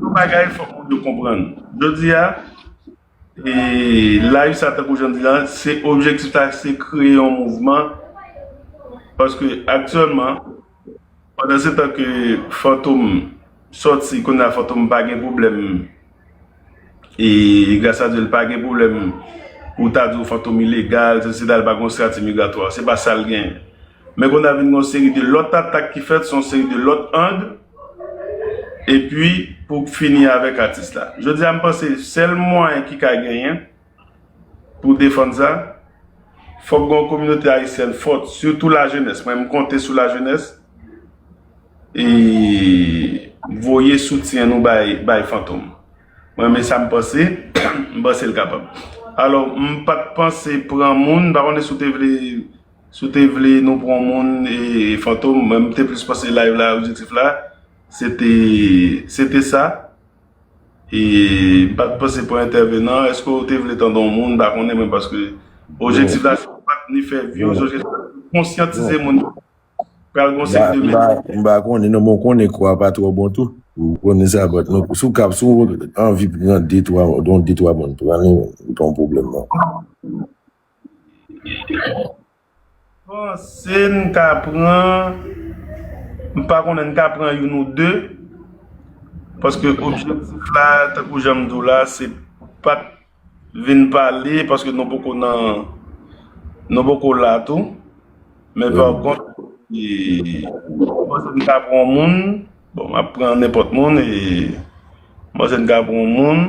Yon bagay fòk moun yo konprann. Jodi a, la usa tankou jan m di la, se objektif la se kreye yon mouvman paske aktyèlman pandansetan ke Fantom sòti, kounye a Fantom pa gen pwoblèm. E gras a Dye l pa gen pwoblèm pou w ta di w fantom ilegal, sesi la, l pa gen yon strati migratwa. Se pa sa l gen. Men konn a vin gen yon seri de lòt atak ki fèt sou yon seri de lòt ang epi pou fini avèk atis la. Jodi a m panse sèl mwayen ki ka genyen. pou defann sa. Fòk gen yon kominote ayisyèn fòt, sitou lajenès. Mwen m konte sou lajenès e voye soutyen nou bay Fantom. Mwen renmen sa m panse, m panse l kapab. Alò, m pa t panse pran moun, m pa konnen si w te vle nou pran moun Fantom, mwen m te plis panse live la objektif la se te sa. M pat panse pou entèvenan, eske ou te vle tande yon moun, m pa konnen men paske objektif la se pat ni fè vyoz, objektif la se konsyantize moun yo. Pral gon seri de mesaj. M pa konnen non men ou konnen kou a pa twò bon tou. Ou konnen sa bat non si w kab si w anvi pran de twa don de twa moun pran l ou pa gen pwoblèm non. Panse n ka pran, m pa konnen, n ka pran youn ou de, paske objektif la, tankou jan m di w la, se pa t vin pale, paske nou poko nan, nou poko la tou, men pa kont, m panse n ka pran yon moun, bon, m ap pran nenpòt moun, e m panse n ka pran yon moun.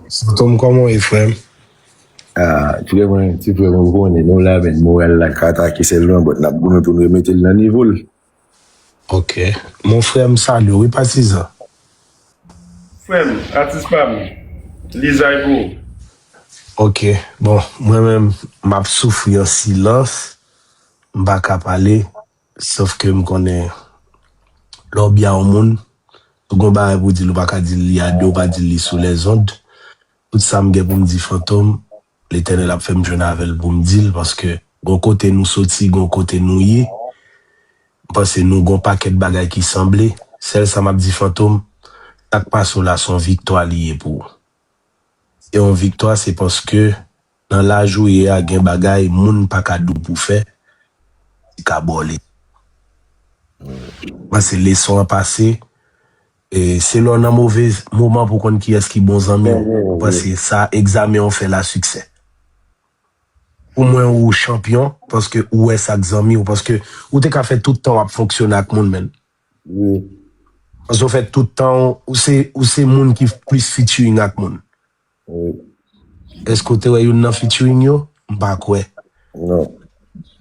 Santom kòman w ye frè m? Frè mwen, ti frè mwen, ou konnen nou la men, moral la ka atake sèlman, but n ap goumen pou n remete l nan nivo l. Ok Mon frère m salye w wi patizan. Frem atis pam lizay pou ou. Ok bon mwen menm map soufri an silans m pa ka pale sof ke m konnen lè w bya yon moun ou gon bagay pou w di l ou pa ka di l li a 2 ou pa di l li sou lèzond tout sa m gen pou m di fantom Letènèl ap fèm jwenn avèl poum dil paske gon kote nou soti gon kote nou ye m panse nou gon pakèt bagay ki sanble sèl sa map di fantom sak pase w la son viktwa li ye pou ou se yon viktwa se paske nan laj ou ye a gen bagay moun paka di w pou fè ki ka ba w leson m panse leson an pase Se lè w nan move moman pou w konn kiyès ki bon zanmi w. Mwen panse sa egzamen an fè la siksè. Pou mwen ou chanpyon paske ou wè sa k zanmi w paske ou te ka fè tout tan w ap fonksyone ak moun menn. Paske w fè tout tan w se moun ki plis featuring ak moun. Eske ou te wè youn nan featuring yo? M pa kwè. Non.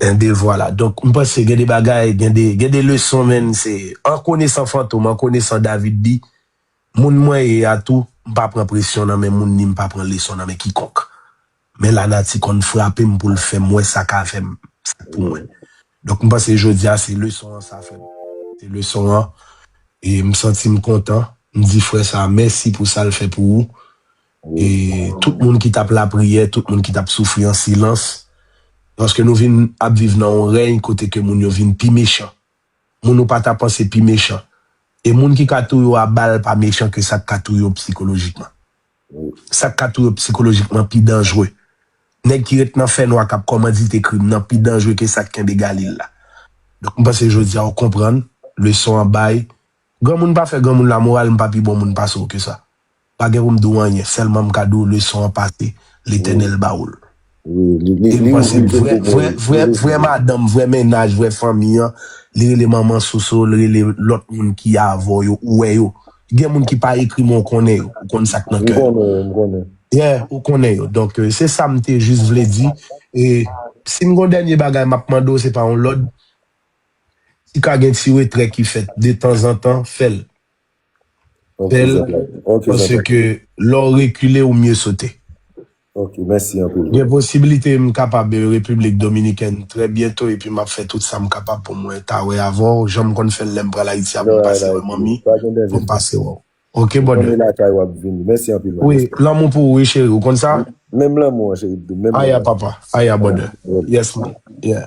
Enben vwala. Donk m panse gen de bagay, gen de, gen de leson menn se an konesan Fantom, an konesan David D, moun mwen ye a tou, m pa pran presyon nan men moun ni m pa pran leson nan men kikonk. Men lanati konn frape m pou l fè m wè sa ka fè m, sa k pou mwen. Donk m panse jodi a se leson an sa fèm se leson an e m santim kontan m di frè sa mèsi pou sal fè pou ou e tout moun ki tap lapriyè tout moun ki tap soufri an silans paske nou vin ap viv nan yon rèy kote ke moun yo vin pi mechan moun ou pata panse pi mechan e moun ki ka touye w a bal pa mechan ke sak ka touye w psikolojikman. Sa k ka touye w psikolojikman pi danjre. Nèg ki ret nan fènwa k ap kòmandite krim nan pi danjre ke sa k kenbe Galil la. Donk m panse jodi a ou konprann leson an bay. Granmoun pa fè granmoun lamoral, m pa pi bon moun pase w ke sa. M pa gen pou m di w anyen, sèlman m ka di w leson an pase, Letènèl ba ou l. Li panse vrè madanm, vrè mennaj, vrè fanmi an, li rele manman Soso, li rele lòt moun ki avè w yo, ou wè yo. Gen moun ki pa ekri men ou konnen yo, ou konn sa k nan kè yo. M konnen yo, m konnen yo. Yeah, ou konnen yo. Donk, se sa m te jis vle di. E, si m gon dènye bagay m ap mande w, se pa yon lòd, si ka gen ti retrè ki fèt detanzantan, fè l. Bèl panse ke lè w rekile ou mye sote. Gen posibilite m kapab Repiblik Dominikèn trè byento epi m ap fè tout sa m kapab pou mwen ta wè avè w jan m konn fè l lè m pral Ayiti a pou m pase wè manmi pou m pase wè w ok brother. Wi lanmou pou ou wi cheri ou konn sa. Aya papa aya brother yes man yeah.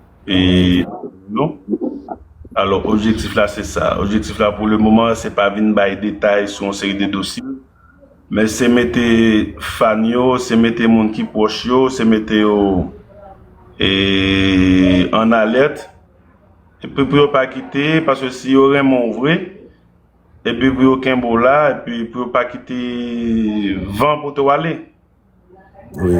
Nou. Alò, objektif la se sa. Objektif la pou le moman, se pa vin bay detay sou yon seri de dosye, men se mete fan yo, se mete moun ki pwòch yo, se mete yo an alèt, epi pou yo pa kite, paske si yo renmen w vre, epi pou yo kenbe w la, epi pou yo pa kite van pote w ale. Wi.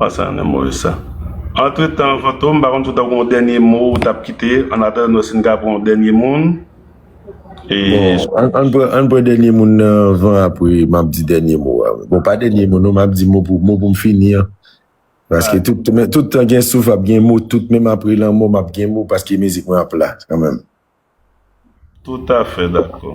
Wa sa nan move sa. Antretan Fantom m pa konn si w ta gen yon dènye mo ou tap kite an atandan nou wè si n ka pran yon dènye moun. Bon ann pran dènye moun nan anvan apre map di dènye mo a. Bon pa dènye mo non map di mo pou m fini an. Paske tout tan gen souf ap gen mo tout menm apre lanmò map gen mo paske mizik mwen ap la kanmenm. Toutafè dakò.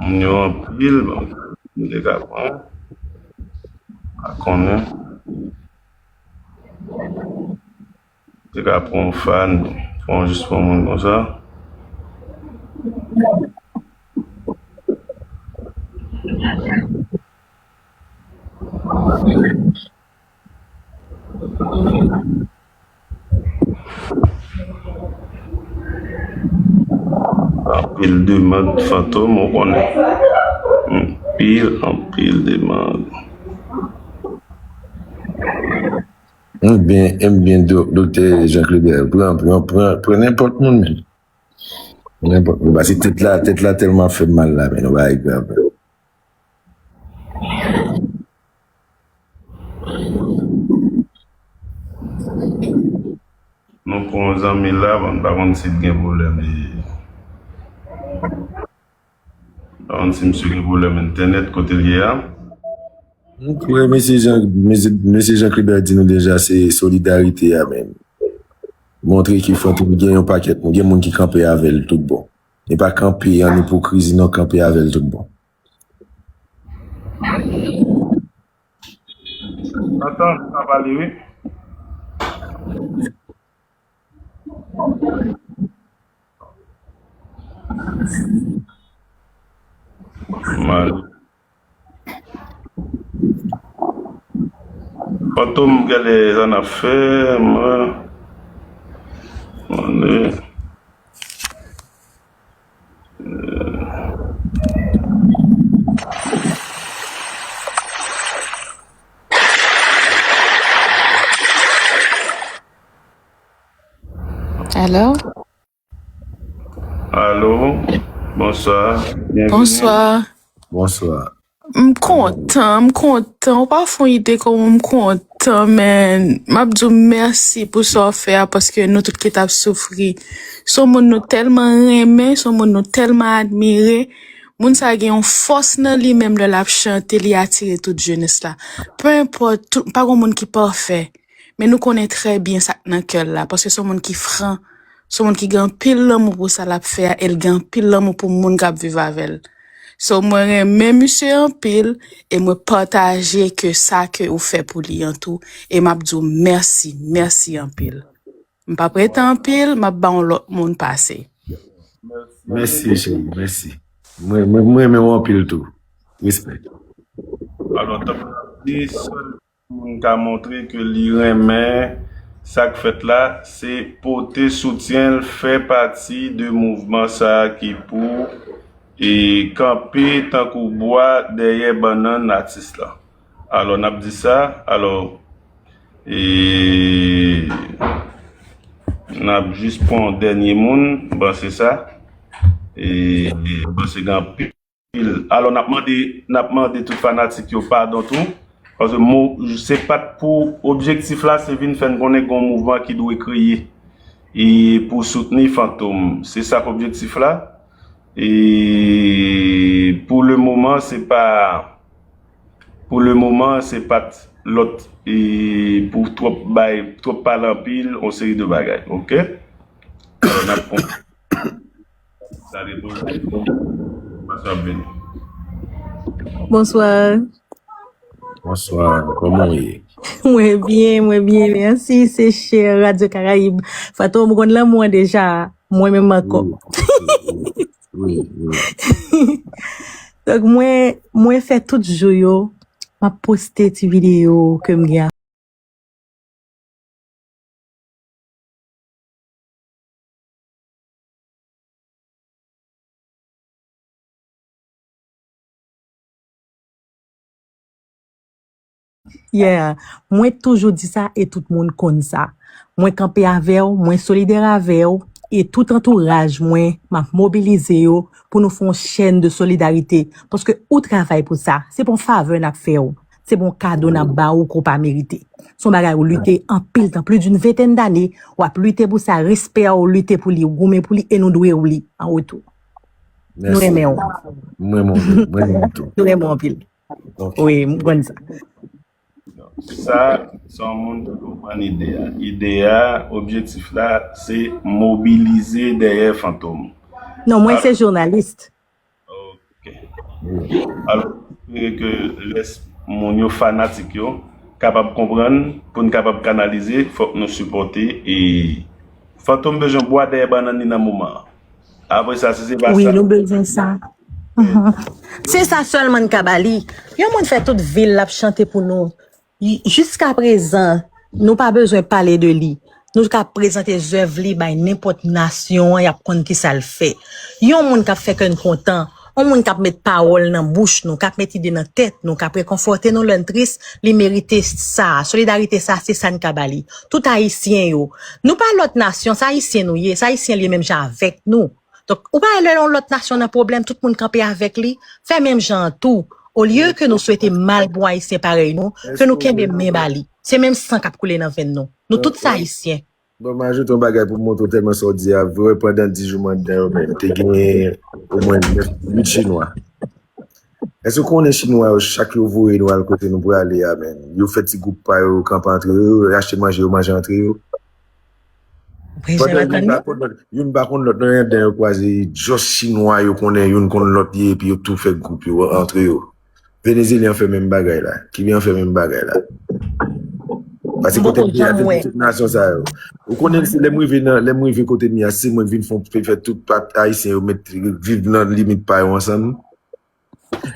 Moun yo anpil banm nou te ka pran pa konnen te ka pran yon fan fò ou jis pran moun konsa. Anpil demand fantom ou konnen. Anpil anpil demand. Ebyen Doktè Jean Clébert pran pran pran pran nenpòt moun menm. Nenpòt moun pase tèt la tèt la tèlman fèm mal la men yon bagay grav. Nou pran yon zanmi la bon pa konn sil gen pwoblèm pa konn si misye gen pwoblèm entènèt kotel ye a. Nou kwè mesye jan mesye jan Klibè di nou deja se solidarite a men montre ke fòk nou gen yon pakèt nou gen moun ki kanpe avèl tout bon e pa kanpe an ipokrizi non kanpe avèl tout bon. Antann sa pale wi. Fantom gade sa nap fè man. Alo Alo, bonswa, byenvini. Bonswa. Bonswa. M kontan m kontan ou pa fon ide koman m kontan man map diw mèsi pou sa w fè a paske nou tout ki tap soufri son moun nou tèlman renmen son moun nou tèlman admire moun sa gen yon fòs nan li menm lè lap chante li atire tout jenès la pe enpòt tout pa gon moun ki pafè. Men nou konnen trè byen sa k nan kè l la, paske s on moun ki fran, s on moun ki gen anpil lanmou pou sa l ap fè a e l gen anpil lanmou pou moun k ap viv avè l. So mwen renmen misye anpil e mwen pataje ke sa ke ou fè pou li an tou e m ap di w mèsi, mèsi anpil. M pa pre tan anpil, m ap ba yon lòt moun pase. Mèsi cheri, mèsi. Mwen renmen w anpil tou. Respè. Alò, tanpri, sèl Pou moun ka montre ke li renmen sa k fèt la, se pote soutyen l, fè pati de mouvman sa ki pou kanpe tankou bwa dèyè bannann atis la. Alò n ap di sa, alò n ap jis pran yon dènye moun, m panse sa, m panse gen anpil. Pil. Alò nap mande nap mande tout fanatik yo padon tou paske mo se pat pou objektif la se vin fèn konnen gon mouvman ki dwe kreye e pou soutni Fantom se sak objektif la e pou le moman se pa pou le moman se pat lòt e pou twòp bay twòp pale anpil on seri de bagay ok alò nap konprann. Sa depan de kòman sa ap vini. Bonsoir. Bonsoir, kòman ou ye? Mwen byen, mwen byen, mèsi. Se chè Radio Caraïbe. Fatou, mwen konn lanmou an deja. Mwen menm ankò. Oui, oui. Donk mwen, mwen fè tout jou yo, mwen poste ti video ke m gen. Yeah, mwen t toujou di sa e tout moun konn sa. Mwen kanpe avèw, mwen solidè avèw e tout antouraj mwen map mobilize yo pou nou fè yon chèn de solidarite paske ou travay pou sa, se pa yon favè nap fèw. Se pa yon kado n ap ba ou ke ou pa merite. Se yon bagay ou lite anpil tan, plis d'une ventèn dane, w ap lite pou sa, respè a ou lite pou li, ou goumen pou li e nou dwe ou li an retou. Nou renmen ou. M renmen w tou. M renmen w tou. Nou renmen w anpil. Wi, m konn sa. Sa, se yon moun ki konprann ide a. Ide a, objektif la, se mobilize dèyè Fantom. Non, mwen se journaliste. Ok. Alò, m espere ke rès moun yo, fanatik yo, kapab konprann, pou n kapab kanalize, fòk nou sipòte e Fantom bezwen bwa dèyè bannann li nan moman an. Apre sa, si se pa sa. Wi, nou bezwen sa. Se sa sèlman n ka ba li. Yon moun fè tout vi l ap chante pou nou. Jiska prezan, nou pa bezwen pale de li. Nou ka prezante zèv li bay nenpòt nasyon an, y ap konn ki sa l fè. Yon moun k ap fè kè n kontan, yon moun k ap met pawòl nan bouch nou, k ap met ide nan tèt nou, k ap rekonfòte nou lè n tris, li merite sa a. Solidarite sa a, se sa n ka ba li. Tout Ayisyen yo. Nou pa lòt nasyon, se Ayisyen nou ye, se Ayisyen l ye menm jan avèk nou. Donk, ou pa wè lè yon lòt nasyon nan pwoblèm, tout moun kanpe avèk li, fè menm jan an tou. Olye ke nou swete mal pou Ayisyen parèy nou, ke nou kenbe men ba li. Se menm san k ap koule nan venn nou. Nou tout se Ayisyen. Bon, m ajoute yon bagay pou m montre w tèlman sa w di a vre, pandan di jou m anndan yo menm, te genyen omwen 9, 8 chinwa. Èske w konnen chinwa yo, chak yo voye nou al kote nou prale a menm, yo fè ti gwoup pa yo, yo kanpe antre yo, yo achte manje, yo manje antre yo. Pwojè la kanni. Youn pa konn lòt nan yon den yo kwaze just chinwa yo konnen youn konn lòt ye epi yo tou fè gwoup yo antre yo. Venezelyen fè menm bagay la. Kiben an fè menm bagay la. Pase kote m te a te gen tout nasyon sa yo. Ou konnen se lè m rive nan lè m rive kote m ye a se mwen k vin fon fè tout ayisyen yo mèt viv nan limit pa yo ansanm.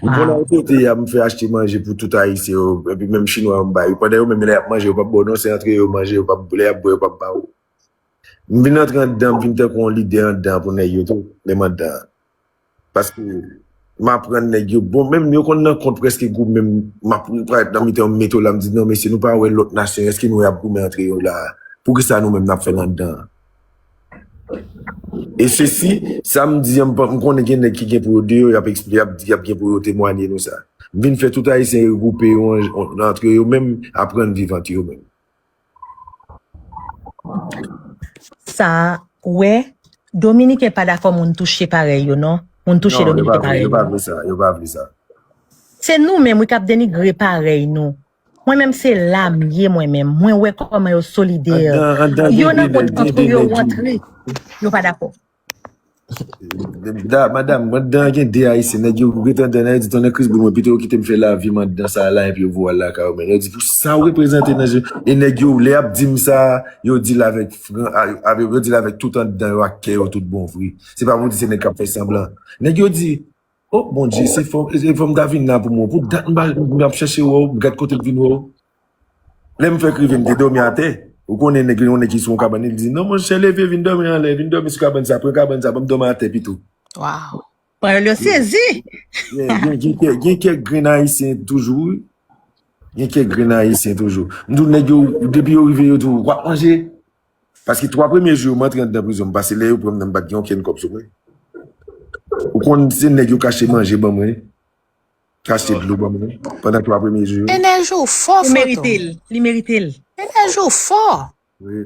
Pou moun an kote ya m fè achte manje pou tout ayisyen yo epi menm chinwa yo m ba yo pandan yo menm lè yap manje yo pap ba w non se antre yo manje yo pap lè yap bwè yo pap ba w m vin antre anndan m vin tankou yon lidè anndan pou nèg yo tou menm anndan an paske m aprann nèg yo bon menm yo konn nan kont prèske gou menm m ap parèt nan mitan yo m mete w la m di non mesye nou pa wè lòt nasyon eske nou wè yap goumen antre yo la poukisa nou menm nap fè l anndan an. E sesi, sa m di an, m konnen gen nèg ki gen pou yo de yo, y ap eksplike, y ap di, y ap gen pou yo temwanye nou sa. M vin fè tout Ayisyen regwoupe yo antre yo menm, aprann viv antre yo menm. Sa, wè, Dominiken pa dakò moun touche parèy yo non. Moun touche Dominiken parèy yo. Non, yo pa vle sa, yo pa vle sa. Se nou menm wi k ap denigre parèy nou. Mwen menm se la m ye mwen menm mwen wè koman yo solider yo nan kont antre yo rantre yo pa dakò. Da madam mwen dan gen de ayisyen nèg yo ret andan nèg yo di tonnè kris boule mwen pito yo kite m fè lavi m andan sa la epi yo voye al lakay yo men yo di pou sa ou reprezante nan je e nèg yo lè yap di m sa yo di l avèk fran avèk yo di l avèk tout andan yo ak kè yo tout bon vre se pa pou di se nèg kap fè sanblan nèg yo di Oh bondye se fòm e fòm ta vin la pou mwen pou dat mpa map chèche wèw m gad kotem t vin wèw lèm fèk rive m te dòmi atè ou konnen nèg gen yon nèg ki sou yon kabann li di non monchè leve vin dòmi anlè vin dòmi sou kabann sa pran kabann sa banm dòmi atè pito Waw panyòl yo sezi yeah gen gen kè gen kèk grenn ayisyen toujou wi gen kèk grenn ayisyen toujou m diw nèg yo depi yo rive yo diw wap manje Paske 3 premye jou yo m antre andan prizon m pase lè yo pranm nan m pat gen okenn kòb sou mwen ou konn se nèg yo kache manje ban mwen kache dlo ban mwen pandan 3 premye jou yo. Enèji w fò fantom. Ou merite l, li merite l. Enèji w fò. Wi.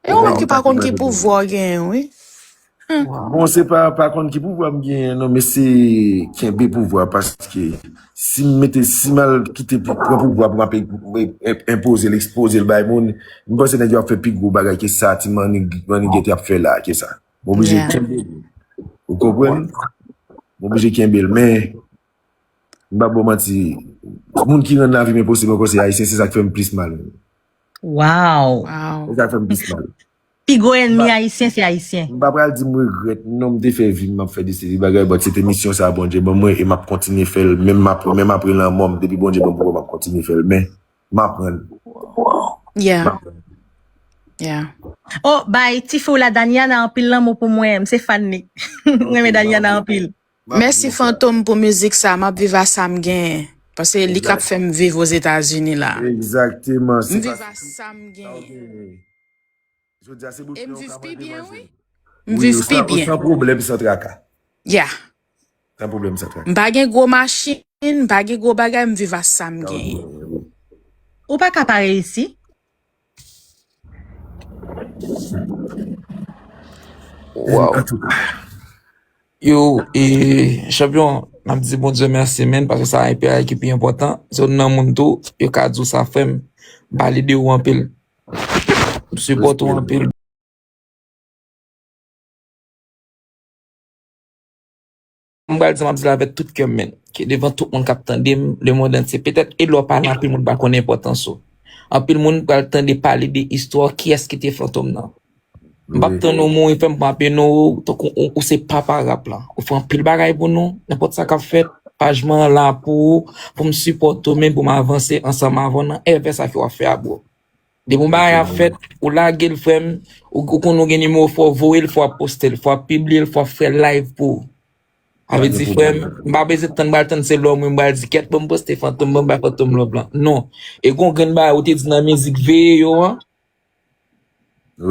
E yon lòt ki pa konn ki pouvwa w genyen wi. Bon se pa pa konn ki pouvwa m genyen non men se kenbe pouvwa paske si m mete si m al kite pou pran pouvwa pou m ap enpoze l ekspoze l bay moun m panse nèg yo ap fè pi gwo bagay ke sa ti mannigèt ap fè la ke sa m oblije kenbe l ou konprann m oblije kenbe l men m pa bò manti moun ki rann lavi m enposib ankò se ayisyen se sa k fè m plis mal waww se sa k fè m plis mal. Pi gwo enmi ayisyen se ayisyen. M pa pral di m regrèt non m te fè vi m map fè de seri bagay but se te misyon sa Bondye ban mwen e map kontinye fè l menm menm apre lanmò m depi Bondye ban m pouvwa map kontinye fè l men m aprann m aprann. Oh bay tifi w la Daniana anpil lanmou pou mwen m se fan li m renmen Daniana anpil. Map Mèsi viv la. Fantom pou mizik sa map viv a sam genyen paske li kap Exact. fèm viv ozetazini la Exactement. M Se viv a paske tout sam sa ou genyen genyen. Jodia se e m boukinen ou viv ka pi manje byen wi manjel. m Wi, viv pi san, byen san pwoblèm, san traka. ya San pwoblèm, san m traka. pa gen gwo machin m pa gen gwo bagay m viv a sam Sa ou genyen genyen wi. Ou pa ka pa reyisi. Wow. An tou ka. Yo, e, chanpyon, m ap di bon Dieu merci men, paske sa e peyay ki pi important. Se yon nan moun tou, yo ka di ou sa frèm. M pale de ou anpil. M support ou anpil. M pral di sa m ap di la avèk tout kè m men ke devan tout moun k ap tande m, lemond antye, petèt e lè w pa la anpil moun pa konnen enpòtans ou. Anpil moun pral tande pale de istwa w, kiyès ki te Fantom nan. M p ap tann ou mouri fè m pran ape non ou tankou ou se papa rap la. Ou fè anpil bagay pou nou, nenpòt sa k ap fèt, paj mwen an la pou ou, pou m sipòte ou menm pou m avanse ansanm avè w nan èvè sa ke w ap fè a bro. Depi yon bagay ap fèt, ou lage l frè m, ou konn ou gen nimewo fò w voye l, fò w ap poste l, fò w ap pibliye l, fò w ap fè layv pou ou. Sa vle di frè m, m pa bezwen tann pral tann se lè w mwen m pral di kèt ban m poste Fantom ban m bay Fantom love lan. Non. E gen yon grenn bagay ou te di nan mizik Veye yo an,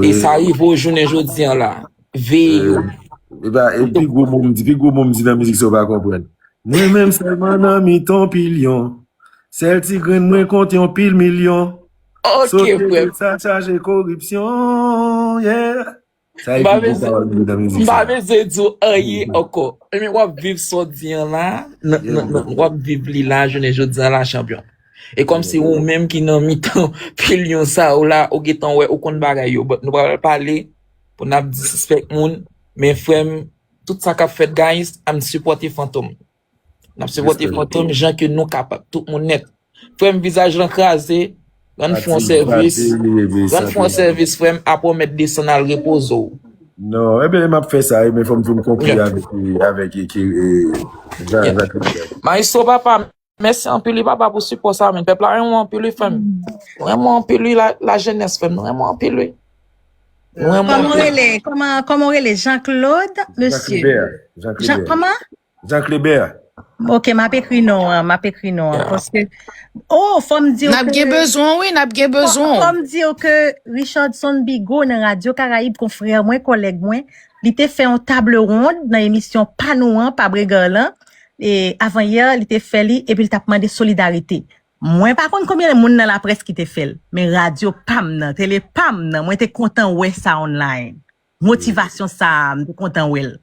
e sa rive w jounen jodi an la. Veye yo. Epa, e pi gwo mo m di, pi gwo mo m di nan mizik sa ou pa konprann. Mwen menm sèlman nan mitan pilyon, Sèl ti grenn mwen kont yon pil milyon. Ok frè m. Sa chaje koripsyon yeah. Sa e pi gwo pawòl mwen nan mizik sa. M pa bezwen di w anyen ankò. Ebyen wap viv sa w di an la, wap viv li la jounen jodi an la chanpyon. E kòm se ou menm ki nan mitan pil yon sa yo la, ou gen tan wè, ou konn bagay yo. But nou pa pral pale pou n ap disispèk moun. Men frè m, tout sa k ap fèt guys, ann sipòte Fantom. Nap sipote fantom jan ke nou kapab tout moun nèt. Frèm vizaj lan kraze, rann frè w sèvis, rann frè w sèvis frèm apre w mèt desann al repoze w. Non, e ben map fè sa e men fòm finn konkli avèk e ke e Jean Jacques Richard. Maestro papa mèsi anpil wi papa pou sipò sa men pèp la renmen w anpil wi frèm. Nou renmen w anpil wi la jenès frèm nou renmen w anpil wi. Kòman w rele, kòman w rele Jean Claude mesye? Jean Claude. Jean kòman? Jean Clebert. Ok map ekri non an, map ekri non an paske Oh fòm diw Nap gen ke bezwen w wi, nap gen bezwen w. fòm diw ke Richardson Bigot nan Radio Caraïbe konfrè mwen, kòlèg mwen, li te fè yon table ronde nan emisyon pa nou an, pa Bregar lan, e avan yè li te fè li epi li tap mande solidarite. Mwen pa konn konbyen moun nan laprès ki te fè l, men radyo pa m nan, tele pa m nan, mwen te kontan wè sa online. Motivasyon sa a, m te kontan wè l.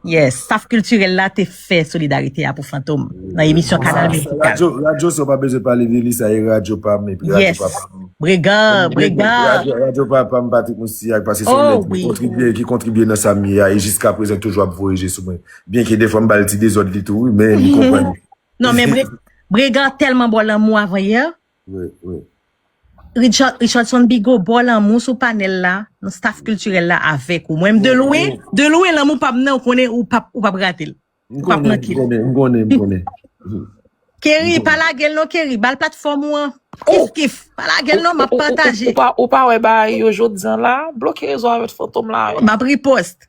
Yes, staf kiltirèl la te fè solidarite a pou Fantom nan emisyon Kanal Mizikal. Radyo sa w pa bezwen pale de li, sa e radyo pa m epi radyo papa m. Yes, Bregan, Bregan. Radyo papa m Patrick Moustilhac pase se yon nèg ki kontribye, ki kontribye nan sa m ye a e jiska prezan li toujou ap voye je sou mwen. Byen ke defwa m ba l ti dezòd li tou wi men li konprann. Non men Bregan tèlman ba w lanmou avan yè. Wi, wi. Richardson Bigot baw lanmou sou panel la nan staff kiltirèl la avèk ou mwen menm de lwen de lwen lanmou pam nan ou konnen ou pap ou pap ratel ou pap mankel. M konnen, m konnen, m konnen. Kerry pa lagel non Kerry bal platfòm ou an kif kif pa lagel non map pataje. Ou pa wè bagay yo jodi an la bloke rezo avèt fantom la. Map riposte.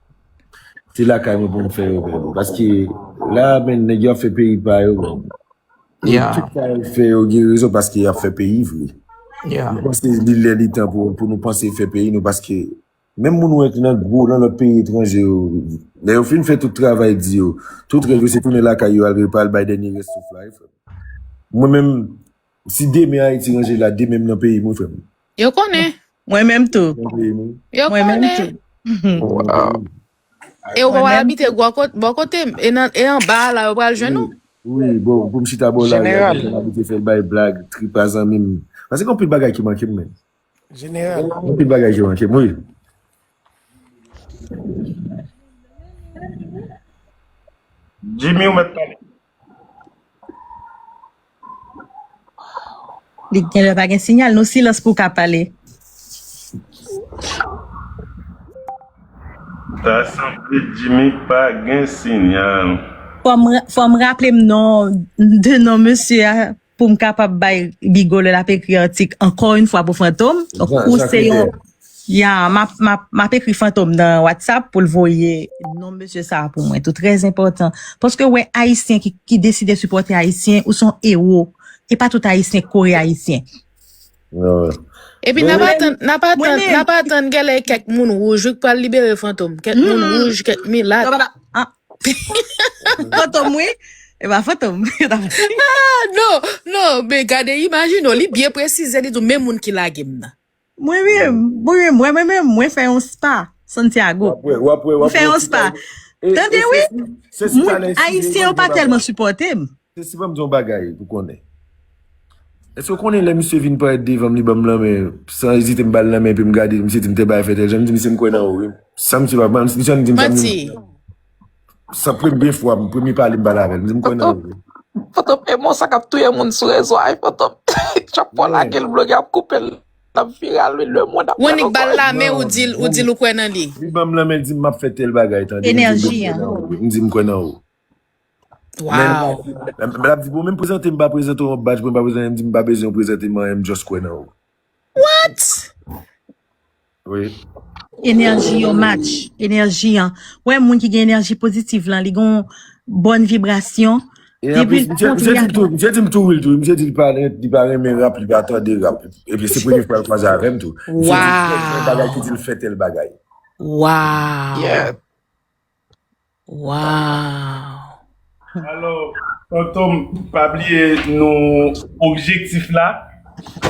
Se lakay mwen pou m fè yo menm. Paske la menn nèg yo ap fè peyi pa yo menm. E tout sa yo fè yo gen rezon paske y ap fè peyi vre. Mwen panse li lè li tan pou nou panse fè peyi nou paske menm moun wè ki nan gwo nan lòt peyi etranje yo lè yo fin fè tout travay di yo tout rèv yo se tounen lakay yo al repa al bay dènye rès souf la wi frè m. Mwen menm. Si demen Haiti ranje la demenm nan peyim wi frem. Yo konnen. Mwen menm tou. Yo konnen. E ou pa wal abite bò kotem e anba la ou pral jwenn ou. Wi bon poum chita bò la. Jeneral. Mwen abite fèl bay blag tripa zanmim. Pase gen anpil bagay ki mankem men. Jeneral. Mwen te bagay Jean Jacques oui. Jimmy ou met pale. Li gen lè pa gen signal nou silans pou ka pale. Ta sanble Jimmy pa gen signal. Fòm raplem non de non mesye a. pou m kapab bay Bigo lè l ap ekri atik ankò yon fwa pou Fantom. Ou se yon. Ya, m ap ekri Fantom nan Whatsapp pou l voye non mesye sa a pou mwen tou. Trè enpòtan. Paske wè Ayisyen ki deside sipòte Ayisyen, ou se yon ewo. E pa tout Ayisyen k kore Ayisyen. Epi nap atann, nap atann, nap atann gèlè kèk moun wouj wi k pral libere Fantom. Kèk moun wouj, kèk milat. Fantom wi, e pa Fantom. Non, non, men gade imajine w, li byen presize li di w men moun ki lage m nan. Mwen menm, mwen menm, mwen menm, mwen fè yon spa Santiago. Wap wè, wap wè, wap wè. Mwen fè yon spa. Tande wi, moun ayisyen yo pa tèlman sipòte m. Sesi banm di yon bagay pou konnen. Eske ou konnen lè misye vin parèt devanm li banm lanmen san ezite m bal lanmen epim gade misye dim te bay fè tèl jan m di misye m kwè nan ou wi san misye pa banm misye annik dim sa m di sa premye fwa m premye pale m pale avèl m di m kwè nan ou. Fantom e mo sa kap touye moun sou rezo a wi fantom chak fwa w lagel vlog yo ap koupel lap viral wi le mond ap pran nou kòl. Li banm lanmen l dim map fè tèl bagay tande m di m kwè nan ou. Men Wow. l ap di pou mwen prezante m pa prezante w yon badj mwen pa bezwen anyen m di m pa bezwen w prezante m anyen m just kwè nan ou. What? Wi. Enèji yo match, enèji an. Ou wè moun ki gen enèji pozitiv lan li gen yon bòn vibrasyon. E anplis misye di m tou, misye di m tou wi l tou wi, misye di li pa renmen rap, li pa tande rap. Epi se premye fwa l kwaze avè m tou. Misye di m tel bagay ki di l fè tèl bagay. Wow. Yeah. Waww. Alo fantom pa bliye nou objektif la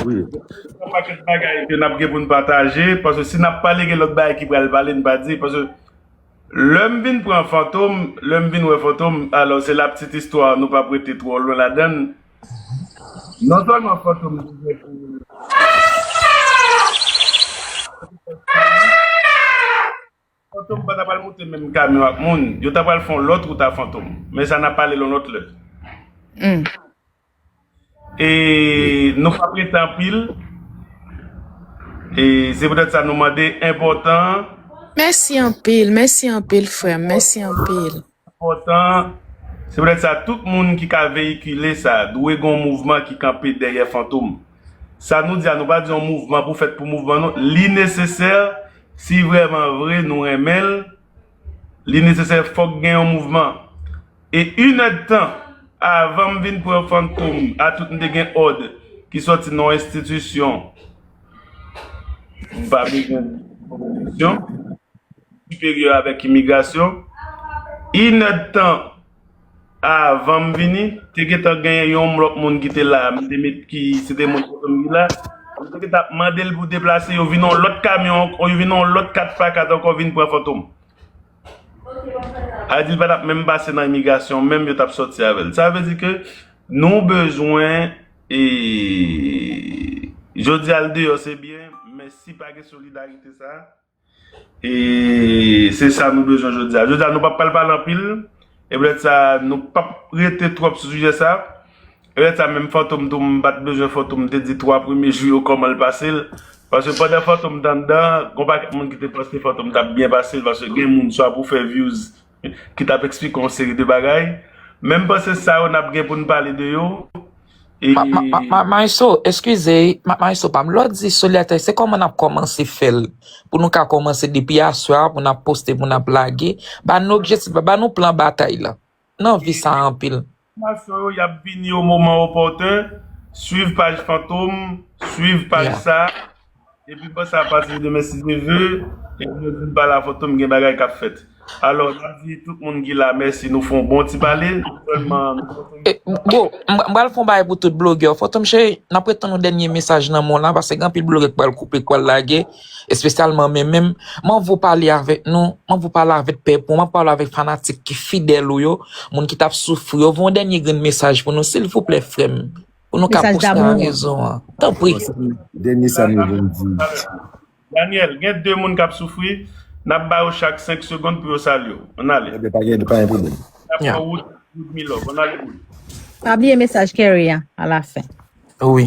wi gon pakèt bagay ke nap gen poun pataje paske si nap pale gen lòt bagay ki pral pale nou pa di paske lèm vin pran fantom lèm vin wè fantom alò se la ptit istwa nou pap rete twò lwen ladann non sèlman fantom te gen pou Fantom pa ta pral moute menm kamyon ak moun, yo ta pral fè yon lòt wout a Fantom, men sa n ap pale l yon lòt lè. E nou pa prete anpil, e se poutèt sa nou mande enpòtan. Mèsi anpil, mèsi anpil frè m, mèsi anpil. enpòtan, se poutèt sa tout moun ki ka veyikile sa dwe gon mouvman ki kanpe dèyè Fantom. Sa nou di a nou pa di yon mouvman pou fèt pou mouvman non, li nesesè si vrèman vre nou renmen l, li nesesè fòk gen yon mouvman. E inèdtan avan m vin pran Fantom a tout m te gen òd ki sòti nan yon enstitisyon m pa bezwen di non polisyon. Siperyè avèk imigrasyon. Inèdtan avan m vini, te gentan gen yon lòt moun ki te la, m te met ki, se te moun kote m ki la, yo te gentan ap mande l pou deplase, yo vin yon lòt kamyon ankò, yo vin yon lòt 4 pa 4 ankò vin pran Fantom. A di l pa t ap menm pase nan imigrasyon menm, yo t ap sòti avè l. Sa vle di ke nou bezwen, e, jodi a l deyò se byen, men si pa gen solidarite sa a. E se sa nou bezwen jodi a. Jodi a nou pa pral pale anpil. E poutèt sa nou pa rete twòp sou sijè sa. E poutèt sa menm Fantom tou m pa t bezwen Fantom te di 3 premye jou yo kòman l pase l. Paske pandan Fantom t anndan, gon pakèt moun ki te panse Fantom t ap byen pase l. Paske gen moun swa pou fè vyouz. ki tap eksplike yon seri de bagay men m panse sa yo nap gen pou n pale de yo e. Maestro eskize maestro pa m lè w di soli atè se kòman nap kòmanse fè l pou nou ka kòmanse depi aswè a pou n ap poste pou n ap lage ba nou objektif la ba nou plan batay la nan vi sa anpil. Enfòmasyon yo yap vini o moman opòten, swiv paj Fantom, swiv paj sa, epi pòs sa ap pase demen si Dye ve, e nou vin pale a Fantom gen bagay kap fèt. Alò nap di tout moun ki la mèsi nou fon bon ti pale, nou sèlman nou pran ton. Bro, m pral fon bagay pou tout blogè yo, Fantom cheri nap ret tann yon dènye mesaj nan men w la, paske gen anpil blogè k pral koupe k pral lage. espesyalman men menm, man vou pale avèk nou, man vou pale avèk pèp ou, man vou pale avèk fanatik ki fidèl ou yo, moun ki tap soufri yo, voun dènye grenn mesaj pou nou silvouplè frè m, pou nou ka pouse nan rezon an, tanpri. Dènye sa nou voun di. Daniel, gen 2 moun kap soufri, nap ba yo chak 5 segond pou yo salye w, ann ale. Ok, pa gen pwoblèm. Nap pran wout Ludmilove, ann ale Lud. Pa bliye mesaj Kerry a alafen. Wi.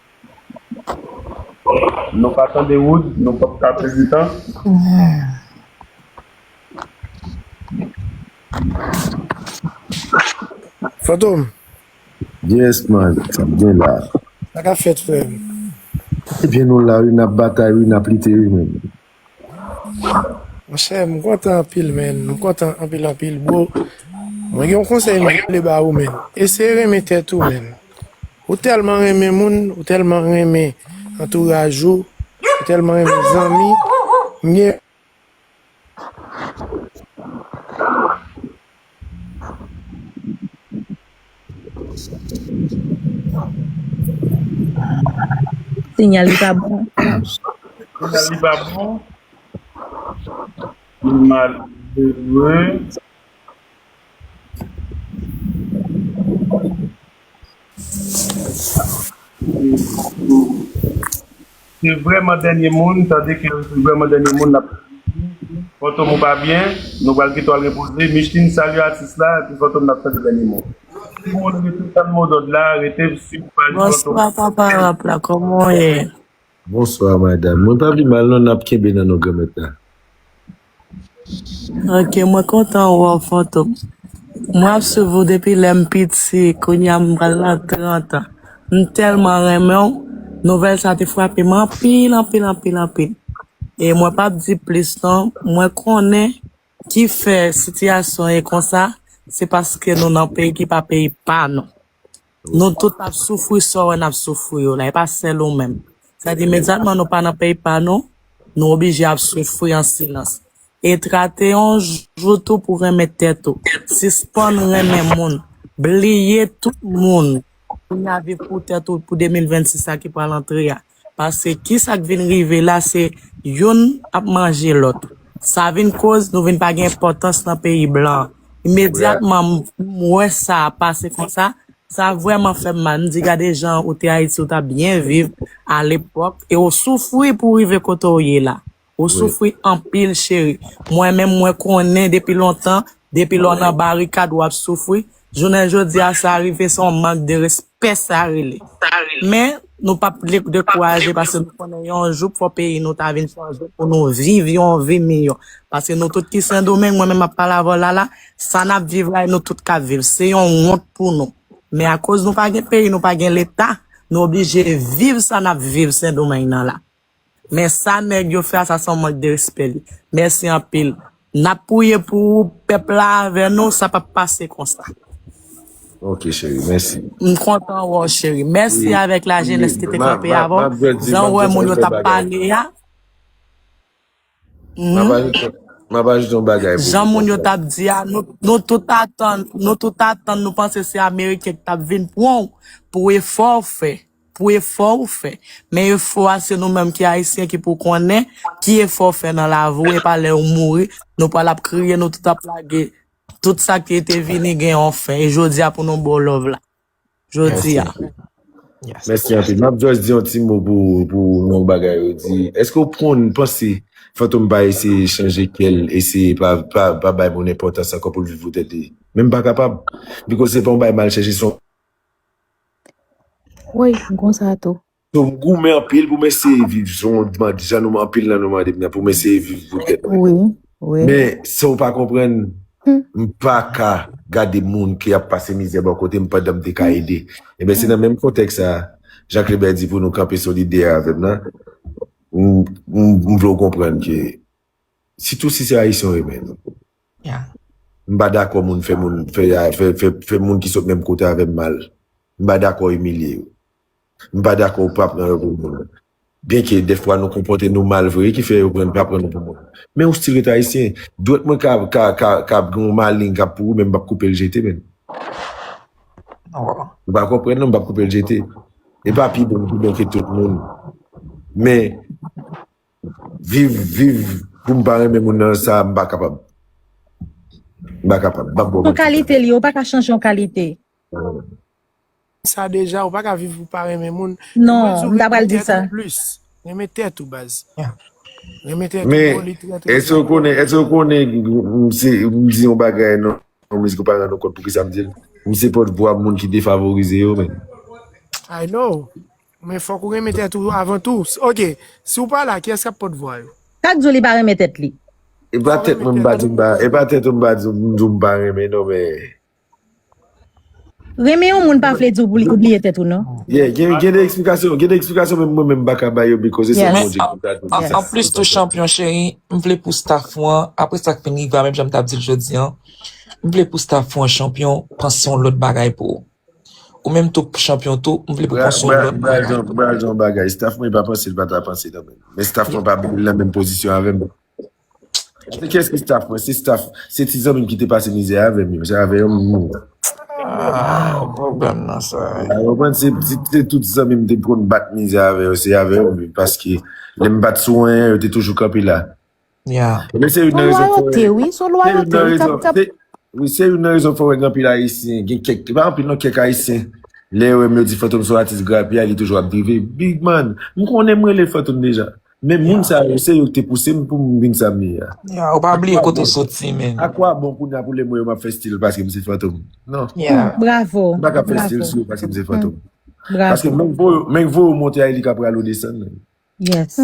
Nou pa tande wood nou pap ka prezidan. Fantom. Yes man, sak gen la? Sa kap fèt frèm? Ebyen nou la wi nap batay wi nap lite wi menn. Monchè m kontan anpil menn, m kontan anpil anpil bro, mwen gen yon konsèy m vle ba ou menn, eseye renmen tèt ou menn, ou tèlman renmen moun, ou tèlman renmen antouraj ou, ou tèlman renmen zanmi, m gen. Sinyal li pa bon. Sinyal li pa bon. Li malere. Se vreman denye moun tande kerry se vreman denye moun lap fantom ou pa byen nou pral kite w al repoze Micheline salye atis la epi fantom nap tande denye mo timoun rete tann modòd la rete siw pa di fantom Bonswa papa rap la kòman w ye? Bonsoir madame mwen pa pi mal non nap kenbe nan non granmet la. Ok mwen kontan wè w fantom. Mwen ap swiv ou depi lè m piti kounya m pral nan 30 ans m telman renmen w nouvèl sa te frape m anpil anpil anpil anpil e mwen pap di plis non mwen konnen Ki fè sitiyasyon ye konsa se paske nou nan peyi ki pa peyi pa nou. Nou tout ap soufri sa w wè n ap soufri yo la, e pa sèl ou menm. Sa di imedyatman nou pa nan peyi pa nou, nou oblije ap soufri an silans. E trate yon jou tou pou renmen tèt ou. Sispann renmen moun. Bliye tout moun Konyave pou tèt ou pou 2026 sa ki pral antre a. Pase kisa k vin rive la se youn ap manje lòt. Sa vin koz nou vin pa gen enpòtans nan peyi blan. Imedyatman m wè sa pase konsa, sa vrèman fè m mal. M di gade jan ou te Ayiti ou t ap byen viv alepòk e ou soufri pou w rive kote w ye la. Ou soufri anpil cheri. Mwen menm mwen konnen depi lontan depi lè w nan barikad w ap soufri. Jounen jodi a sa rive se yon mank de respè sa rele. Men nou pap dekouraje paske nou konnen yon jou fò peyi nou ta vin chanje pou nou viv yon vi miyò. Paske nou tout ki sendomeng mwen menm m ap pale avè w la la sa n ap viv la e nou tout k ap viv se yon wont pou nou. Men akoz nou pa gen peyi nou pa gen leta nou oblije viv sa n ap viv sendomeng nan la. Men sa neg yo fè a sa son mank de respè li. Merci anpil. Nap priye pou ou pep la avè nou sa pap pase konsa. Ok cheri mèsi. M kontan wè w cheri. Mèsi avèk lajenès ki te kanpe avè w. Jan w wè moun yo t ap pale a. Map Humm. ajoute map ajoute yon bagay pou Jan li moun yo konprann. tap di a, nou, nou tout atan, nou tout atan, nou panse se ameriken ki tap vin pran w pou efò w fè, pou efò w fè. Men efò a se nou menm ki ayisyen ki pou konnen ki efò w fè nan lavi w, e pa lè ou mouri, nou pral ap kriye, nou tout ap lage tout sa ki te vini gen yon fen, e jodi a pou nou ba w love la. Jodi a. Mèsi anpil. Map just di yon ti mo pou pou yon bagay ou di. Eske ou pwonn panse Fantom pa eseye chanje kèl, eseye pa pa pa bay moun enpòtans ankò poul viv pou tèt li? Menm pa kapab. Because se pa yon bagay mal chèche son. Woy gon sa tou. So m goumen anpil pou m eseye viv jan w mande, jan nou anpil nan nou mande m nan pou m eseye viv pou tèt mwen. Men sa w pa konprann, m pa ka gade moun ki ap pase mizè bò kote m pandan m te ka ede. Enben se nan menm kontèks sa a, jan Klebè di pou nou kanpe solidè avè m nan, m vle w konprann ke sitou si se Ayisyen w renmen, m pa dakò moun fè moun ki sot menm kote avè m mal, m pa dakò imilye yo. M pa dakò ou pa pran yo pou moun. Byenke dèfwa nou konpòte nou mal vre ki fè yo pran pa pran nou pou moun. Men ou stil ret ayisyen. Dwèt mwen ka ka ka ka gen yon maleng k ap pouri men m p ap koupe l jete menm. Ou pa konprann non m p ap koupe l jete. M pa pi bon pi bon ke tout moun. Men viv viv pou m pa renmen moun nan sa m pa kapab. M pa kapab. M p ap bon. Son kalite li ye ou pa ka chanje yon kalite. sa deja ou paka viv pou pa renmen moun non m ta pral di sa plus renmen tèt ou baz renmen tèt ou bro li trè trè enpòtan men èske ou konnen èske ou konnen msi m di yon bagay nan yon mizik ou pa rann ou kont poukisa m dil m se pòt vwa moun ki defavorize yo men i know men fòk ou renmen tèt ou avan tou ok si ou pa la kiyès kap pòt vwa yo sa k di w li pa renmen tèt li epa tèt mwen m pa di m pa epa tèt ou m pa di w m pa renmen non men. Renmen yon moun pa vle di ou bliye tèt ou non. Yeah, gen gen de eksplikasyon, gen de eksplikasyon menm mwen menm m paka ba yo because se Bondye ki pou ta di sa. Anplis tou chanpyon cheri, m vle pou staff ou an, aprè sa k fin rive a menm jan m t ap di l jodi an, m vle pou staff ou an chanpyon panse yon lòt bagay pou ou. Ou menm tou chanpyon tou, m vle pou panse yon lòt bagay pou ou. Bra gen yon bagay, staff mwen pa panse l pa ta panse nan menm. Men staff mwen pa vle l nan menm pozisyon avè m. Se kyes ki staff mwen se staff se ti zanmim ki te pase mizè avèm yo se avè yo m vin la. Ah, ou problem nan sa. Ou konprann se se tout zanmim te konn bat mizè avè yo se avè yo m vin paske lè m pat sou anyen yo te toujou kanpe la. Yeah. Men se youn Son nan rezon fè loyauté, oui, son se youn loyauté, nan oui, kap, rezon kap. se oui se youn nan rezon fè wè gen anpil ayisyen gen kèk pa anpil non kèk ayisyen lè yo wè m yo di Fantom son atis grapyay li toujou ap drive big man m konnen m rele Fantom deja Men moun sa yo se yo ki te pouse m pou m vin sa m ye a. Yeah, ou pa bliye kote ou soti men. A kwa bon kounya pou lè m wè yo m ap fè stil paske m se Fantom? Non. Yeah. Bravo. M pa ka fè stil Bravo. sou yo paske m se Fantom. Paske Bravo. menk vo yo, menk vo yo monte a e li ka pral ou desann menm. Yes.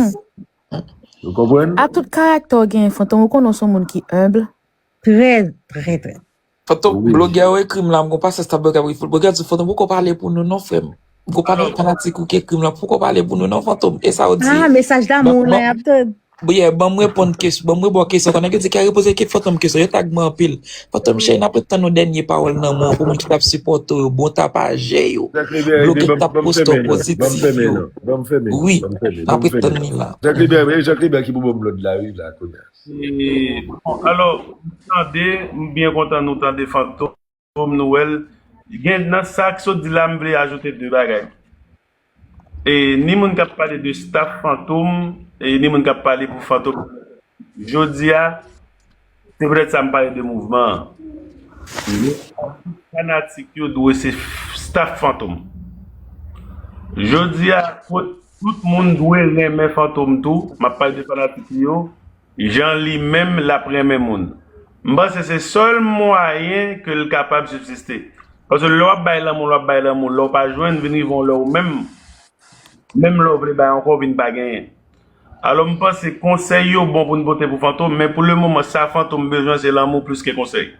Ou konprann? A tout karaktè w genyen Fantom, ou konnen w s on moun ki humble? Trè, trè, trè. Foto Oui. blogè yo ekri m la m gon pasans ta blogè ap ekri blogè di fantom poko pale pou nou non frè m m gon panan fanatik ou ki ekri m la poko pale pou nou non fantom e sa ou di Ah, mesaj ban damou ban mwen ap tande. bon yeah, ban m reponn kes ban m rebon kesyon konnen yo di kè repoze ke fantom kesyon yo tag mwen anpil fantom cheri nap ret tann ou dènye pawòl nan men w pou moun ki tap sipòte w yo bon tapajè yo Zak Lebè ede blogè k banm tap banm poste w fèmen nan banm pozitif fèmen yo nan banm fèmen nan oui banm fèmen nap banm ret fèmen tann li la Zak Lebè ede Zak Lebè ki pou banm lòd la wi la kounya. Bon alò nou tande m byen kontan nou tande Fantom nou wèl gen nan sak sot di la m vle ajoute 2 bagay e ni moun kap pale de staff Fantom e ni moun kap pale pou Fantom jodia se petèt sa m pale de mouvman an men atis fanatik yo dwe se staff Fantom jodia Tout moun dwe renmen Fantom tou, map pale de fanatik li yo, jan li menm lap renmen moun. M panse se sèl mwayen ke l kapab sibsiste. Paske lè wap bay lanmou, wap bay lanmou, lè w pa jwenn, vin rive yon lè ou menm, menm lè w vle bay ankò, w vin pa genyen. Alò m panse konsèy yo bon pou n pote pou Fantom, men pou le moman sa Fantom bezwen se lanmou plis ke konsèy.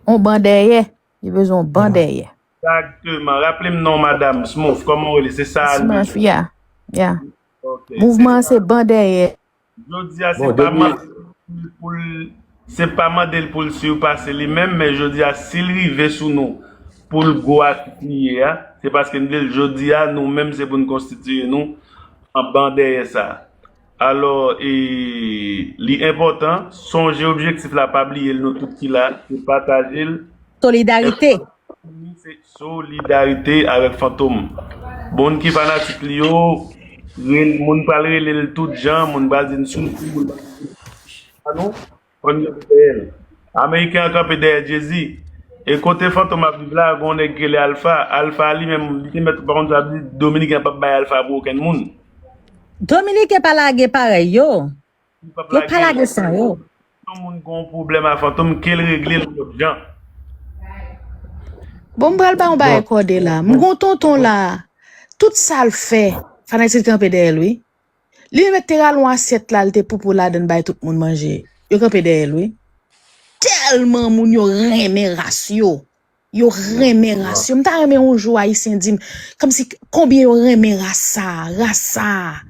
On ban dèyè, li bezwen on ban dèyè. Exactement raple m non madam smooth koman w rele se sa a li ye Smurf yeah yeah ok Mouvman an se ban dèyè. Jodi a se pa mande l pou l se pa mande l pou l sirpase li menm men jodi a si l rive sou nou pou l gwo atis li ye a se paske n vle l jodi a nou menm se pou n konstitiye nou an ban dèyè sa a. Alò e li enpòtan, sonje objektif la pa bliye l nou tout ki la se pataje l. Solidarite. Fantom li se solidarite avèk fantom. Moun ki fanatik li yo, moun pral rele l tout jan, moun pral di n soti, moun pral di n pa nou. Bon Dieu ki peye l. Ameriken an kanpe dèyè Jezi. E kote Fantom ap viv la, gen yon nèg ki rele Alpha. Alpha a li menm, li te mèt, pa konn sa l ap di, Dominiken an p ap bay Alpha pou okenn moun. Dominiken pa lage parèy yo. Yo p ap Yo pa lage l. lage san yo. Si yon moun gen yon pwoblèm a Fantom, ke l regle l lòt jan. Bon m pral ba yon bagay Bon. kòde la. M gen yon tonton la, tout sa l fè, fanatik kanpe dèyè l wi. Li met te ralon asyèt la li te poupou ladann bay tout moun manje. Yo kanpe dèyè l wi. Tèlman moun yo renmen ras yo. Yo renmen ras yo. M ta renmen yon jou ayisyen di m kòmsi konbyen yo renmen ras sa a. Ras sa a.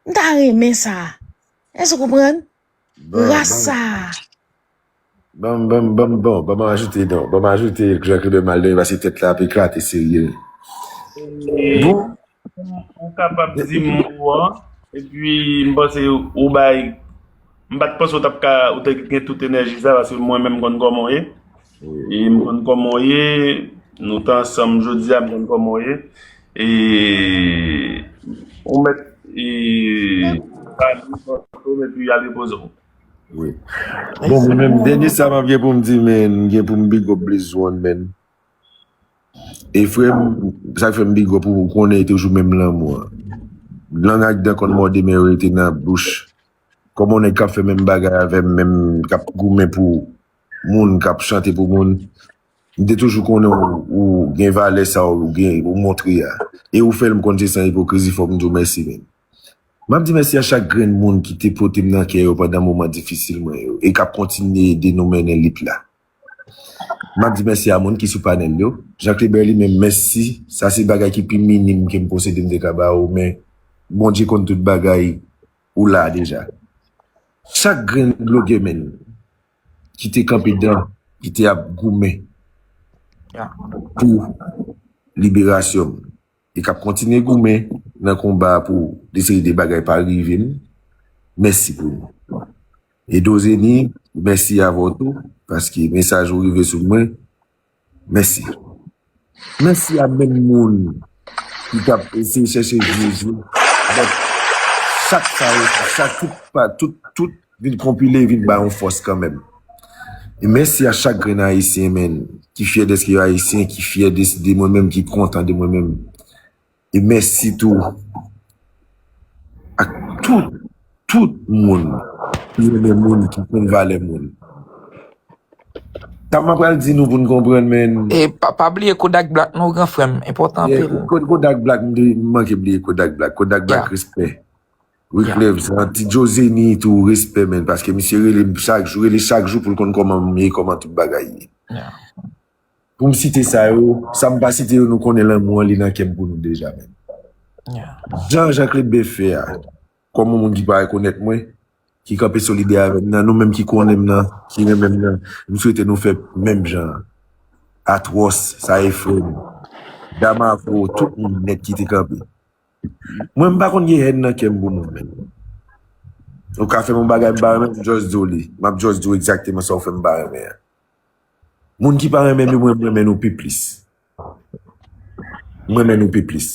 M ta renmen sa. Èske w konprann? Bon, Ras bon. sa a. Bon, bon, bon, bon. Bon, mwen ajoute don. Bon, mwen ajoute Jean Claude Maldonado paske tèt la ap eklate serye. E, Bon, ou, ou kapab di m ou an, epi m panse ou bay, m pa t panse ou t ap ka, ou te gen tout enèji sa, paske mwen menm m konn kòman w ye. E m konn kòman w ye, nou t ansanm jodi a m konn kòman w ye. E ou mèt e pa nou pran foto m epi al repoze w. Wi. Bon mwen menm dènye sa m ap gen pou m di men m gen pou m big up Blaze One men. E frè m sa k fè m big up ou ou konnen e toujou menm lanmou an. Lang ak dan konn mòde men yo rete nan bouch. Kòman w nèg k ap fè menm bagay avè m menm k ap goumen pou moun kap chante pou moun m te toujou konnen ou gen valè sa ou gen ou montre a e ou fèl m konn se san ipokrizi fòk m di w mèsi men map di mèsi a chak grenn moun ki te pote m nan kè yo pandan moman difisil mwen yo e kap kontinye ede nou mennen lit la map di mèsi a moun ki sou panèl yo. Janklebè li menm mèsi sa se bagay ki pi minim ke m posede m te ka ba ou men Bondye konn tout bagay. ou la deja. Chak grenn dlo gemenn ki te kanpe dan ki te ap goumen pou liberasyon m e k ap kontinye goumen nan konba pou de seri de bagay pa rive m, mèsi pou nou. Edozeni, mèsi avè w tou paske mesaj ou rive sou mwen. Mèsi. Mèsi a menm moun ki tap eseye chèche Jezi but chak sa yo tout sa tout pa tout tout vin konpile vin bay yon fòs kanmenm. E mèsi a chak grenn ayisyen menn ki fyè dèske yo ayisyen ki fyè de mwen menm ki kontan de mwen menm. E mèsi tou ak tout, tout moun ki renmen moun, ki konn valè moun. Sa mwen pral di nou pou nou konprann men. E pa bliye Kodak Black non gran frè m, enpòtan anpil. Kodak Black, m te manke bliye Kodak Black. Kodak Black respè. Wiclef Jean, Ti Joe Zeni tou respè men paske misye rele m chak jou, rele chak jou pou l konn kòman m ye, kòman tout bagay ye. pou m site sa yo, sa m pa site yo nou konnen lanmou an li nan kè m pou nou deja menm. Jan Janklod Ben fè a, kòm yon moun ki pa rekonèt mwen, ki kanpe solidè avè m nan, nou menm ki konnen m nan, ki renmen m nan, m swete nou fè menm jan an. Atwòs, sa efre m. Damavo, tout moun nèt ki te kanpe. Mwen m pa konn gen hèn nan kè m pou moun menm. Ou ka fè m yon bagay m pa renmen, m jòs di w li. M ap jòs di w egzakteman sa ou fè m pa renmen an. Moun ki pa renmen nou mwen renmen nou pi plis. M renmen nou pi plis.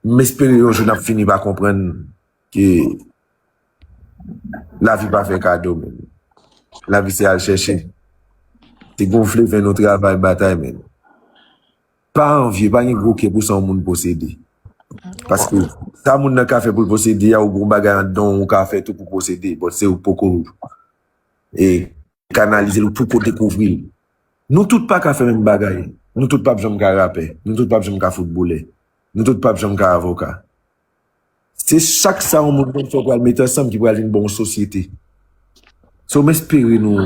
M espere yon jou n ap fini pa konprann ke lavi pa fè kado men. Lavi se al chèche. Se gonfle ven nou travay batay men. Pa anvye, pa gen gwo kè pou sa yon moun posede. Paske sa moun nan ka fè pou l posede a ou gen yon bagay anndan w ou ka fè tou pou posede bòt se ou k poko. Kanalize l ou poko dekouvri l. Nou tout pa ka fè menm bagay. Nou tout pap janm ka rapè. Nou tout pap janm ka foutbolè. Nou tout pap janm ka avoka. Se chak sa yon moun konn fè pral mete ansanm ki pral vin ba w yon sosyete. So m espere nou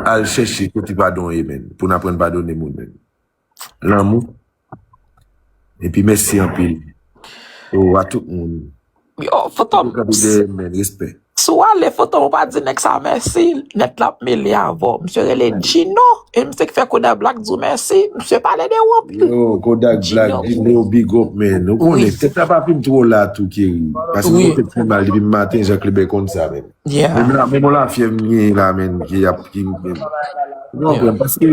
al chèche kote padon ye menn pou n aprann padone moun menn. Lanmou epi mèsi anpil oh a tout moun Yo fantom Kap ede men respè. Si w ale fantom ou pa di nèg sa mèsi nèt lap mele avè w misye rele Djino e misye ki fè Kodak Black di w mèsi misye pale de ou anpil Yo Kodak Black Djino big up man ou konnen tèt la pa fin twò la tou Kerry paske mwen tèt fè mal depi m maten Jean Kleber konn sa men menm on lafyèv m genyen la menn ki ap ki m konprann paske.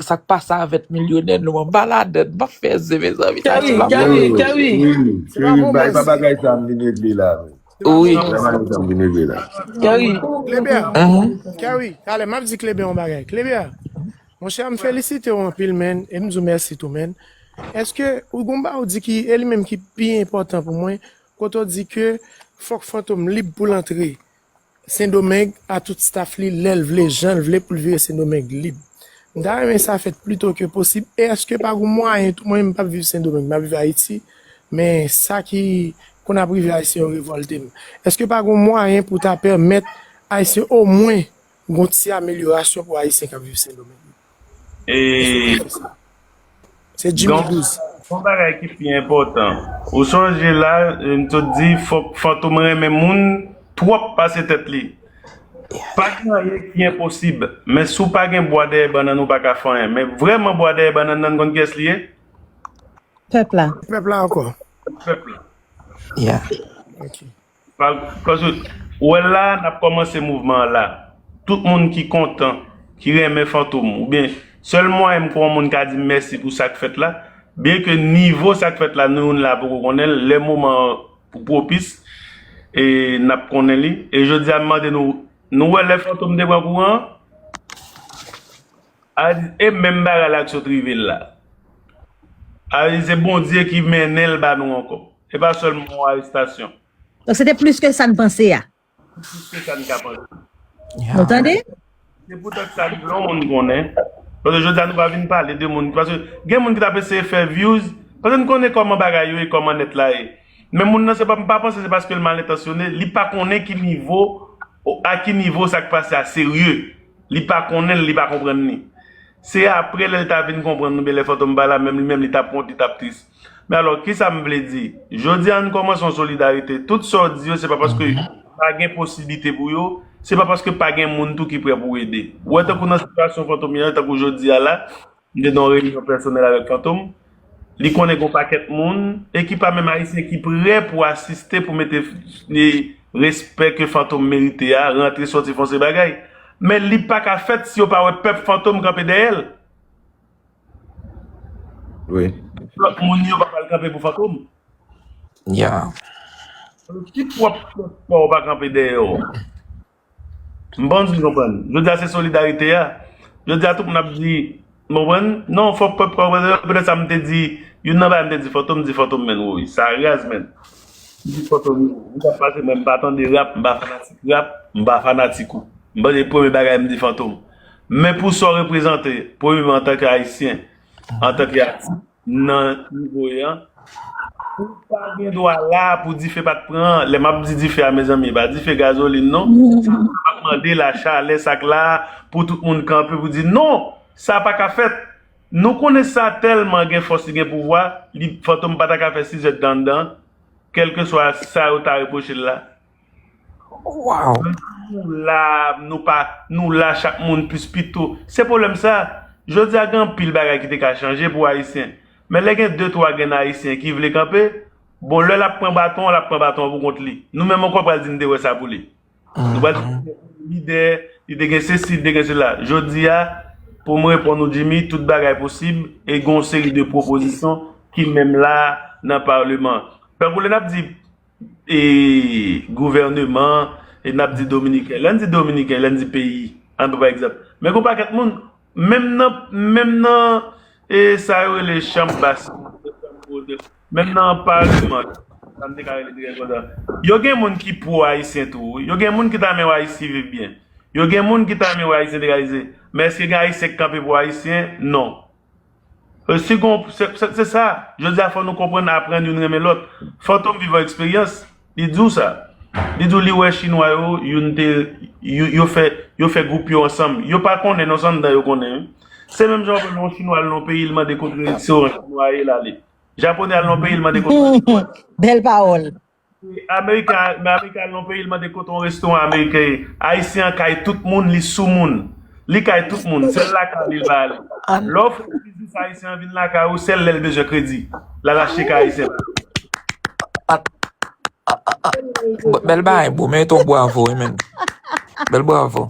Sak pa savet milyonè nou an baladèn map fè ze mezanmi sa Kerry, tiblan Kerry, Kerry, Kerry. Kerry, Se pa Kerry, bon bay pa bagay. bagay sa m vin regle la vre. Se pa bon Wi. Bay bagay bagay. sa m vin regle la. Kerry, Kleber, Mhm. Kerry, talè map di Kleber yon bagay. Kleber, mon cher, m felisite w anpil man e m di w mèsi tou man. Eske ou gon ba ou di ki e li menm ki pi enpòtan pou mwen kote w di ke fòk Fantom lib pou l antre. Sendomeng a tout staff li lèl vle janl vle poul vire sendomeng lib m ta renmen sa fèt plito ke posib e eske pa gon mwayen tou mwen m pap viv sendomeng map viv ayiti men sa ki konn ap rive ayisyen yo revòltem eske pa gon mwayen pou ta pèmèt ayisyen omwen Gon ti amelyorasyon pou ayisyen kap viv sendomeng. Se jimmy 12. Gon bagay ki pi enpotan. Ou sonje la m sot di fok fantom renmen moun twop pase tet li. Pa gen anyen ki enposib. Men si w pa gen bwa dèyè bannann ou pa ka fè anyen. Men vreman bwa dèyè bannann nan konn kiyes li ye? Pep la. Pep la anko. Pep la. Yeah. Ok. Paske ou wè la a nap kòmanse mouvman an la. Tout moun ki kontan, ki renmen Fantom oubyen sèl mwayen m kwè yon moun ka di m mèsi pou sak fèt la, byen ke nivo sak fèt la nou youn la poko konnen l, lè moman an pwopis e nap konnen li. E jodi a m mande nou, nou wè lè Fantom te pran kouran an? Arise e menm bagay la ak sot rive l la Arise se bondye ki mennen l ba nou ankò e pa sèlman yon arestasyon. Donk se te plis ke sa n panse a. Se te plis ke sa n ka panse. Nou tande? Se poutèt sa li vle yon moun konnen paske jodi a nou pa vin pale de moun paske gen moun ki t ap eseye fè vyouz paske n konnen kòman bagay yo ye kòman nèt la ye men moun nan se pa m pa panse se paske l malentansyone li pa konnen ki nivo a ki nivo sa k pase a serye. Li pa konnen l, li pa konprann li. Se apre lè l ta vin konprann nou byen lè Fantom pa la menm li menm li t ap wont, li t ap tris. Men alò, kisa m vle di? Jodi a ann kòmanse yon solidarite. Tout sa w di yo se pa paske pa gen posiblite pou yo, se pa paske pa gen moun tou ki prè pou ede. Ou wè tankou nan sitiyasyon Fantom ye tankou jodi a la, Li te nan yon reyinyon pèsonèl avèk Fantom. Li konnen gen yon pakèt moun, e ki pa menm Ayisyen, ki pre pou asiste pou mete respè ke Fantom merite a, rantre soti fè yon seri bagay. Men li pa ka fèt si yo pa wè pèp Fantom kanpe dèyè l. Lòt moun yo pa pral kanpe pou Fantom. Si pwòp pèp pa w pa kanpe dèyè w. M panse ou konprann. Jodi a se solidarite a. Jodi a tout moun ap di, m konprann, non fòk pèp pa wè erè. Petèt sa m te di, youn nan bagay m te di Fòto, m di Fòto menn woy. Sa raz menn. M di Fòto, m pa pase mwen m pa tande rap, m pa fanatik rap, m pa fanatik ou. M panse premye bagay m di Fòto. Men pou sa w reprezante, premyeman antanke Ayisyen, antanke atis. nan nivo e an Ou pa gen dwa la pou dife pat pran Lè m ap di dife a mezanmi e pa dife gazolin non Sa m ap mande la chalè sa k la pou tout moun kanpe pou di non Sa pa ka fèt Nou konnen sa tèlman gen fòs li gen pouvwa li Fantom pa ta ka fè sizèt dan anndan Kèlkeswa sa yo ta repwoche l la Waww. Nou la nou pa nou la chak moun plis pito se pwoblèm sa jodi a gen anpil bagay ki te ka chanje pou ayisyen men lè gen de twa grenn ayisyen ki vle kanpe bon lè lap pran baton an lap pran baton an pou kont li nou menm ankò pral di nou te wè sa pou li nou pral di li te gen lide li te gen sesi li te gen sela jodi a pou m reponn ou Jimmy tout bagay posib e gen yon seri de pwopozisyon ki menm la nan paleman tankou lè nap di e gouvèneman e n ap di dominiken. Lè n di dominiken, lè n di peyi, an n pran pa egzanp, men gen yon pakèt moun, menm nan, menm nan e sa yo rele chanm bas yo, menm nan paleman, sa m te ka rele byen konsa, yo gen moun ki pwo ayisyen tou wi, yo gen moun ki ta renmen wè Ayiti viv byen, yo gen moun ki ta renmen wè Ayisyen te ka egziste, men èske gen Ayisyen k kanpe pou Ayisyen? Non. Se gon, se sa, jodi a fò nou konprann aprann youn renmen lòt. Fantom vivan eksperyans, li di w sa. Li di w li wè chinwa yo, youn te, yo fè, yo fè gwoup yo ansanm. Yo pa konnen non, se anndan yo konnen wi. Se menm jan w wè lè yon chinwa al nan yon peyi li mande kote restoran chinwa ye, l ale. Japonè al nan yon peyi li mande kote restoran. Bèl pawòl. American men American al nan yon peyi li mande kote yon restoran American ye Ayisyen an kay tout moun li sou moun li kay tout moun sèl lakay li li pa ale lè w fè yon biznis Ayisyen an vin lakay ou sèl lè l bezwen kredi l al achte kay Ayisyen pa ale Bèl bagay bro merite yon bravo wi menn Bèl bravo.